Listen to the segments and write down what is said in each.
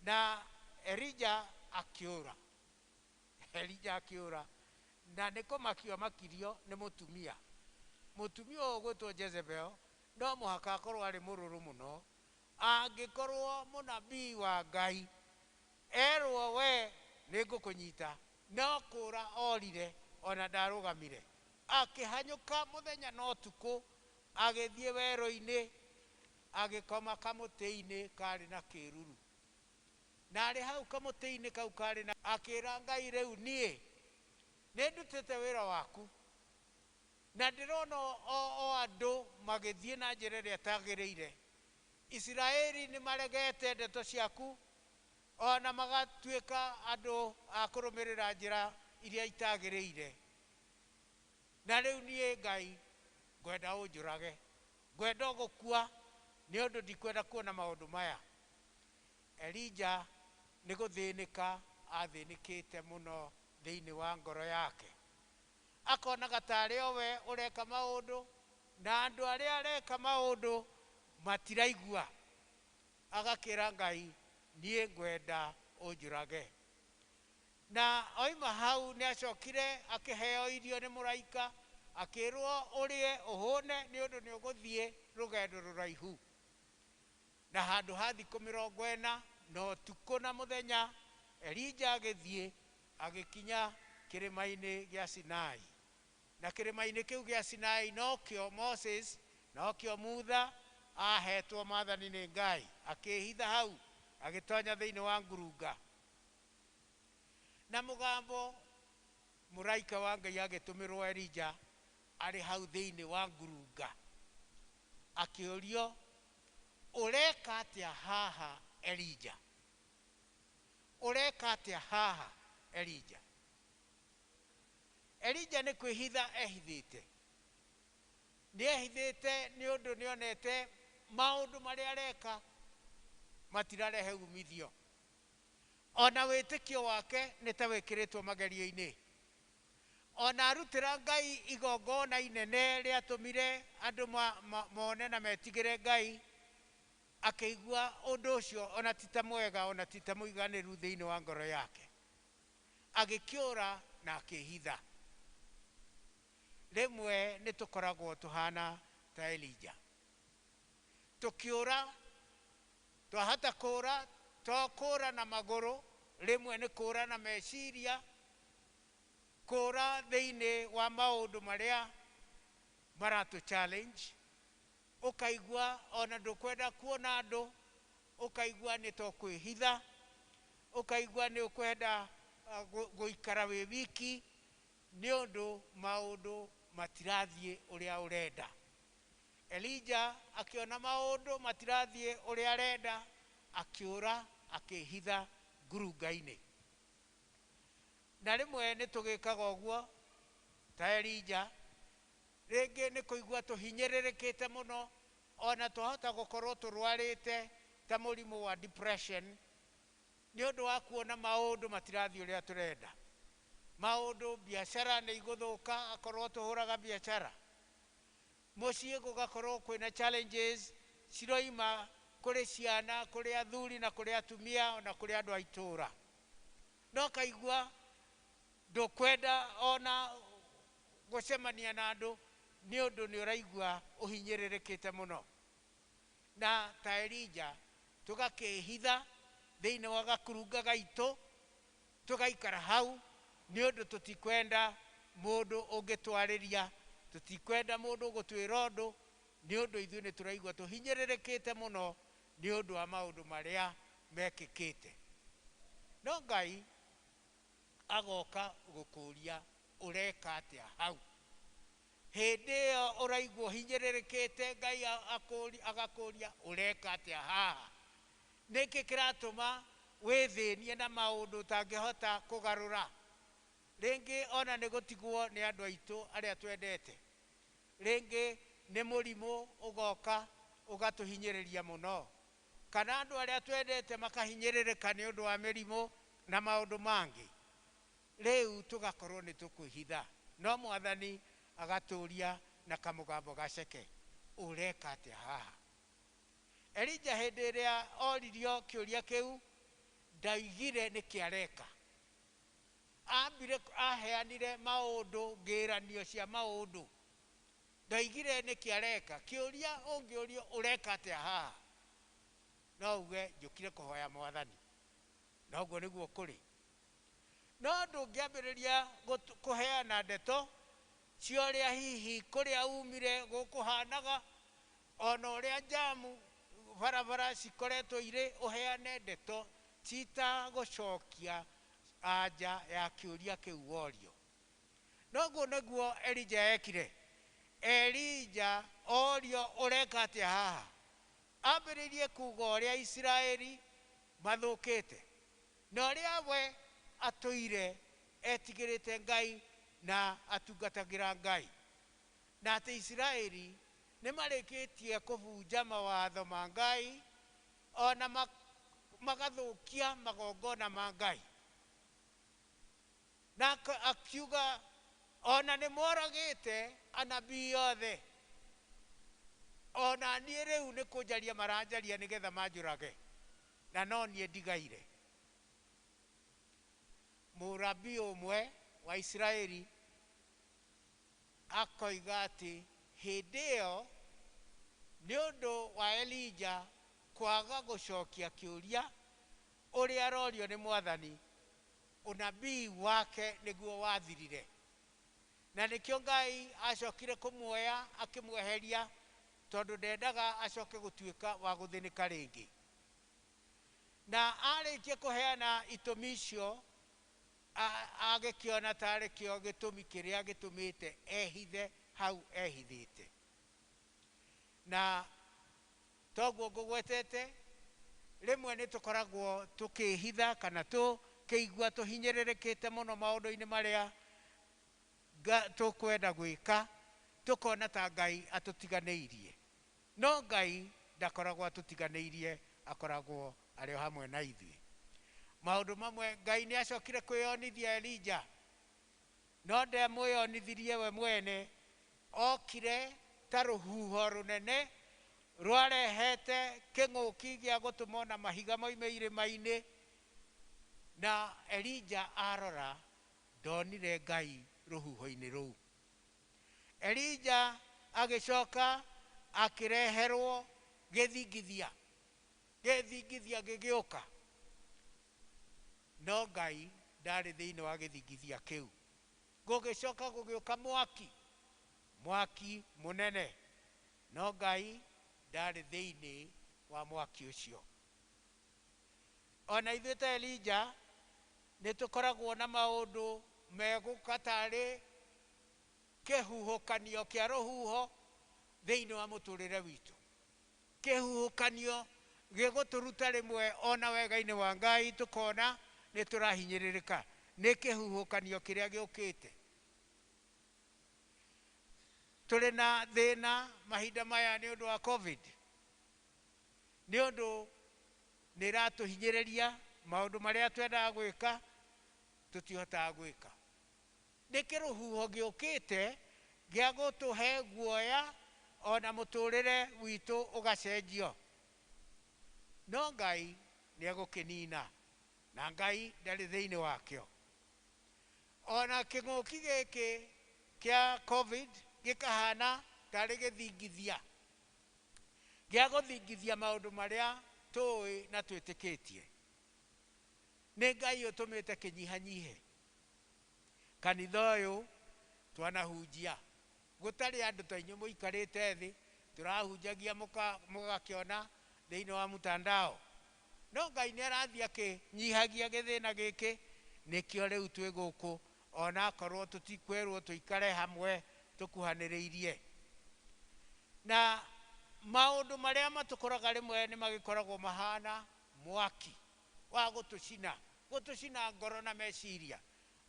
Na Elija akĩũra. Elija akĩũra. Na nĩ kũmakio amakirio nĩ mũtumia. Mũtumia ũyũ ũgwĩtwo Jezebel no mũhaka akorwo arĩ mũrũrũ mũno. Angĩkorwo mũnabii wa Ngai erwo we nĩ ngũkũnyita, no kũũra orire ona ndarũgamire. Akĩhanyũka mũthenya na ũtukũ agĩthiĩ werũ-inĩ Agĩkoma kamũtĩ-inĩ kaarĩ na kĩĩruru. Na arĩ hau kamũtĩ-inĩ kau kaarĩ na. Akĩĩra Ngai, Rĩu niĩ nĩndutĩte wĩra waku, na ndĩrona o andũ magĩthiĩ na njĩra ĩrĩa ĩtagĩrĩire. Isiraeli nĩmaregete ndeto ciaku, o na magatuĩka andũ a kũrũmĩrĩra njĩra iria itagĩrĩire. Na rĩu niĩ Ngai, ngwenda ũnjũrage. Ngwenda o gũkua, nĩ ũndũ ndikwenda kuona maũndũ maya. Elija nĩ gũthĩnĩka athĩnĩkĩte mũno thĩinĩ wa ngoro yake. Akonaga ta arĩ o we ũreka maũndũ, na andũ arĩa areka maũndũ matiraigua. Agakĩra Ngai, Niĩ ngwenda ũnjũrage. Na oima hau nĩacokire akĩheo irio nĩ mũraika, akĩĩrwo, Ũrĩe ũhũne, nĩ ũndũ nĩũgũthiĩ rũgendo rũraihu, na handũ ha thikũ mĩrongo ĩna, na ũtukũ na mũthenya Elija agĩthiĩ, agĩkinya kĩrĩma-inĩ gĩa Sinai. Na kĩrĩma-inĩ kĩu gĩa Sinai nokĩo Moses, nokĩo Mutha, aaheetwo maathani nĩ Ngai, akĩĩhitha hau, agĩtoonya thĩinĩ wa ngurunga. Na mũgambo, mũraika wa Ngai agĩtũmĩrwo Elija arĩ hau thĩinĩ wa ngurunga, akĩũrio, Ũreka atĩa haha, Elija? Ũreka atĩa haha, Elija? Elija nĩ kwĩhitha ehithĩte. Nĩ ehithĩte nĩ ũndũ nĩ onete maũndũ marĩa areka matirarehe uumithio. O na wĩtĩkio wake nĩ ta wĩkĩrĩtwo magerio-inĩ. O na arutĩra Ngai igongona inene rĩatũmire andũ mone na metigĩre Ngai, akĩigua ũndũ ũcio o na ti ta mwega o na ti ta mũiganĩru thĩinĩ wa ngoro yake. Agĩkĩũra na akĩĩhitha. Rĩmwe nĩ tũkoragwo tũhaana ta Elija. Tũkĩũra Twahota kũũra, to kũũra na magũrũ, rĩmwe nĩ kũũra na meciria, kũũra thĩinĩ wa maũndũ marĩa maratũ challenge, ũkaigua o na ndũkwenda kuona andũ, ũkaigua nĩ ta ũkwĩhitha, ũkaigua nĩ ũkwenda gũikara wĩ wiki nĩ ũndũ maũndũ matirathiĩ ũrĩa ũrenda. Elija akĩona maũndũ matirathiĩ ũrĩa arenda, akĩũra akĩĩhitha ngurunga-inĩ. Na rĩmwe nĩ tũgĩkaga ũguo ta Elija, rĩngĩ nĩ kũigua tũhinyĩrĩrĩkĩte mũno, o na twahota gũkorũo tũrũarĩte ta mũrimũ wa depression nĩ ũndũ wa kuona maũndũ matirathiĩ ũrĩa tũrenda. Maũndũ, biacara nĩ igũthũka akorũo tũhũraga biacara. Mũciĩ gũgakorwo kwĩna challenges ciroima kũrĩ ciana, kũrĩ athuri na kũrĩ atumia ona kũrĩ andũ a itũũra. Na ũkaigua ndũkwenda ona gũcemania na andũ nĩ ũndũ nĩ ũraigua ũhinyĩrĩrĩkĩte mũno. Na ta Elija tũgakĩĩhitha thĩinĩ wa gakurunga gaitũ Tũgaikara hau nĩ ũndũ tũtikwenda mũndũ ũngĩtwarĩria, tũtikwenda mũndũ ũgũtwĩra ũndũ, nĩ ũndũ ithuĩ nĩ tũraigua tũhinyĩrĩrĩkĩte mũno nĩ ũndũ wa maũndũ marĩa mekĩkĩte. No Ngai agoka gũkũũria ũreka atĩa hau. Hĩndĩ ĩyo ũraigua ũhinyĩrĩrĩkĩte, Ngai agakũũria ũreka atĩa haha. Nĩ kĩ kĩratũma wĩthĩnie na maũndũ ũtangĩhota kũgarũra? Rĩngĩ o na nĩ gũtigwo nĩ andũ aitũ arĩa twendete. Rĩngĩ nĩ mũrimũ ũgoka ũgatũhinyĩrĩria mũno. Kana andũ arĩa twendete makahinyĩrĩrĩka nĩ ũndũ wa mĩrimũ na maũndũ mangĩ. Rĩu tũgakorũo nĩ tũkwĩhitha. No Mwathani agatũũria na kamũgambo gaceke, Ũreka atĩa haha? Elija hĩndĩ ĩrĩa oririo kĩũria kĩu, ndaigire nĩkĩ areka. Ambire aheanire maũndũ, ngĩranio cia maũndũ. Ndaigire nĩkĩ areka. Kĩũria ũngĩũrio ũreka atĩa haha, no uge njũkire kũhoya Mwathani. Na ũguo nĩguo kũrĩ. No ndũngĩambĩrĩria kũheana ndeto cia ũrĩa hihi kũrĩa umire gũkũhanaga, O na ũrĩa njamu barabara cikoretwo irĩ ũheane ndeto cita gũcokia anja ya kĩũria kĩu worio. Noguo nĩguo Elija ekire. Elija orio ũreka atĩa haha? Ambĩrĩirie kuga ũrĩa Isiraeli mathũkĩte na ũrĩa we atũire etigĩrĩte Ngai na atungatagĩra Ngai na atĩ Isiraeli Nĩ marĩkĩtie kũbunja mawatho ma Ngai, o na magathũkia magongona ma Ngai. Na akiuga, O na nĩ moragĩte anabii othe, o na niĩ rĩu nĩ kũnjaria maranjaria nĩgetha manjũrage, na no niĩ ndigaire. Mũnabii ũmwe wa Isiraeli Akoiga atĩ hĩndĩ ĩyo, nĩ ũndũ wa Elija kwaga gũcokia kĩũria ũrĩa arorio nĩ Mwathani, ũnabii wake nĩguo wathirire. Na nĩkĩo Ngai aacokire kũmuoya akĩmweheria tondũ ndendaga acoke gũtuĩka wa gũthĩnĩka rĩngĩ. Na aarĩkia kũheana itũmi icio, Agĩkĩona ta arĩ kĩo gĩtũmi kĩrĩa gĩtũmĩte ehithe hau ehithĩte. Na toguo ngũgwetete, rĩmwe nĩ tũkoragwo tũkĩĩhitha kana tũkĩigua tũhinyĩrĩrĩkĩte mũno maũndũ-inĩ marĩa tũkwenda gwĩka, tũkona ta Ngai atũtiganĩirie. No Ngai ndakoragwo atũtiganĩirie, akoragwo arĩ o hamwe na ithuĩ. Maũndũ mamwe, Ngai nĩ aacokire kwĩyonithia Elija, no ndamwĩyonithirie we mwene. Ookire ta rũhuho rũnene rwarehete kĩng'ũki gĩa gũtũmwo na mahiga moime irĩma-inĩ, na Elija arora, ndonire Ngai rũhuho-inĩ rũu. Elija agĩcoka akĩreherwo gĩthingithia, gĩthingithia gĩgĩũka, no Ngai ndarĩ thĩinĩ wa gĩthingithia kĩu. Gũgĩcoka gũgĩũka mwaki, mwaki mũnene, no Ngai ndarĩ thĩinĩ wa mwaki ũcio. O na ithuĩ ta Elija, nĩ tũkoragwo na maũndũ megũka tarĩ kĩhuhũkanio kĩa rũhuho thĩinĩ wa mũtũrĩre witũ. Kĩhuhũkanio gĩgũtũruta rĩmwe o na wega-inĩ wa Ngai tũkona nĩ tũrahinyĩrĩrĩka nĩ kĩhuhũkanio kĩrĩa gĩũkĩte. Tũrĩ na thĩna mahinda maya nĩ ũndũ wa Covid. nĩ ũndũ nĩ ĩratũhinyĩrĩria, maũndũ marĩa twendaga gwĩka tũtihotaga gwĩka. Nĩ kĩrũhuho gĩũkĩte gĩa gũtũhe guoya o na mũtũrĩre witũ ũgacenjio. No Ngai nĩ egũkĩnina, na Ngai ndarĩ thĩinĩ wakĩo. O na kĩng'ũki gĩkĩ kĩa Covid gĩkahana tarĩ gĩthingithia. gĩa gũthingithia maũndũ marĩa tũũĩ na twĩtĩkĩtie. Nĩ Ngai ũtũmĩte kĩnyihanyihe. Kanitha ũyũ twanahunjia gũtarĩ andũ ta inyuĩ mũikarĩte thĩ, tũrahunjagia mũgakĩona thĩinĩ wa mtandao. No Ngai nĩarathiĩ akĩnyihagia gĩthĩna gĩkĩ, nĩkĩo rĩu twĩ gũkũ, o na akorũo tũtikwerũo tũikare hamwe tũkuhanĩrĩirie. Na maũndũ marĩa matũkoraga rĩmwe nĩ magĩkoragwo mahaana mwaki wa gũtũcina, gũtũcina ngoro na meciria,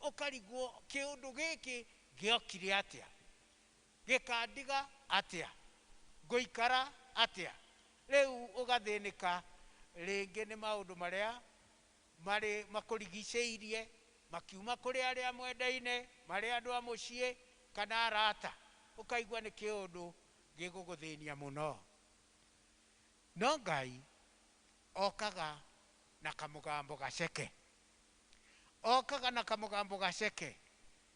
ũkarigwo kĩũndũ gĩkĩ gĩokire atĩa? Gĩkandiga atĩa? Ngũikara atĩa? Rĩu ũgathĩnĩka rĩngĩ nĩ maũndũ marĩa marĩ makũrigicĩirie, makiuma kũrĩ arĩa mwendaine, marĩ andũ a mũciĩ, kana arata, ũkaigua nĩ kĩũndũ gĩgũgũthĩnia mũno. No Ngai okaga na kamũgambo gaceke. Okaga na kamũgambo gaceke,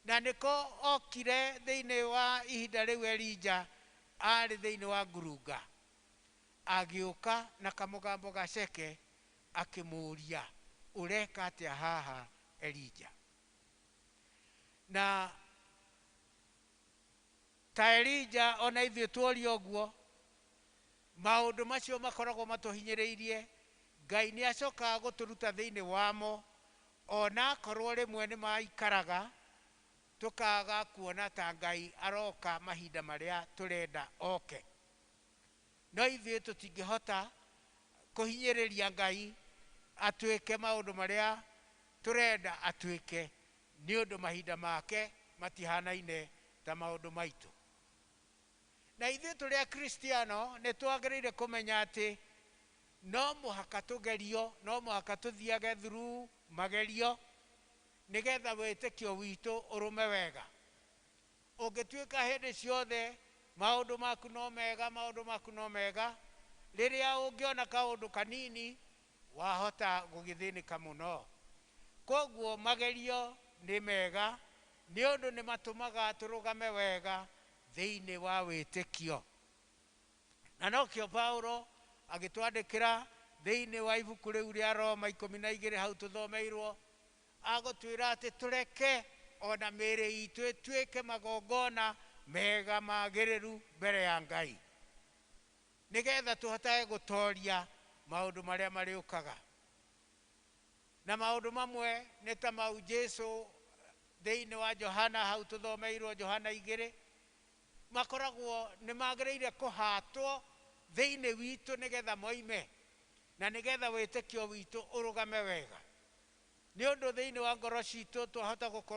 Na nĩko ookire thĩinĩ wa ihinda rĩu Elija aarĩ thĩinĩ wa ngurunga, agĩũka na kamũgambo gaceke, akĩmũũria, Ũreka atĩa haha, Elija? Na. Ta Elija, o na ithuĩ tuoria ũguo. Maũndũ macio makoragwo matũhinyĩrĩirie, Ngai nĩ acokaga gũtũruta thĩinĩ wamo, o na akorũo rĩmwe nĩ maikaraga, tũkaga kuona ta Ngai aroka mahinda marĩa tũrenda oke. No ithuĩ tũtingĩhota kũhinyĩrĩria Ngai atuĩke maũndũ marĩa tũrenda atuĩke, Nĩ ũndũ mahinda make matihaanaine ta maũndũ maitũ. Na ithuĩ tũrĩ Akristiano nĩ twagĩrĩire kũmenya atĩ no mũhaka tũgerio, no mũhaka tũthiage through magerio nĩgetha wĩtĩkio witũ ũrũme wega. Ũngĩtuĩka hĩndĩ ciothe maũndũ maku no mega, maũndũ maku no mega, rĩrĩa ũngĩona kaũndũ kanini Wahota gũgĩthĩnĩka mũno. Kwoguo magerio nĩ mega nĩ ũndũ nĩ matũmaga tũrũgame wega thĩinĩ wa wĩtĩkio. Na nokĩo Paulo agĩtwandĩkĩra thĩinĩ wa ibuku rĩu rĩa Roma ikũmi na igĩrĩ hau tũthomeirũo, agũtwĩra atĩ tũreke o na mĩĩrĩ itũ ĩtuĩke magongona mega magĩrĩru mbere ya Ngai. Nĩgetha tũhotage gũtooria maũndũ marĩa marĩũkaga. Na maũndũ mamwe nĩ ta mau Jesu thĩinĩ wa Johana hau tũthomeirwo Johana igĩrĩ, makoragwo nĩ magĩrĩire kũhatwo thĩinĩ witũ nĩgetha moime, na nĩgetha wĩtĩkio witũ ũrũgame wega. Nĩ ũndũ thĩinĩ wa ngoro citũ twahota gũkorwo.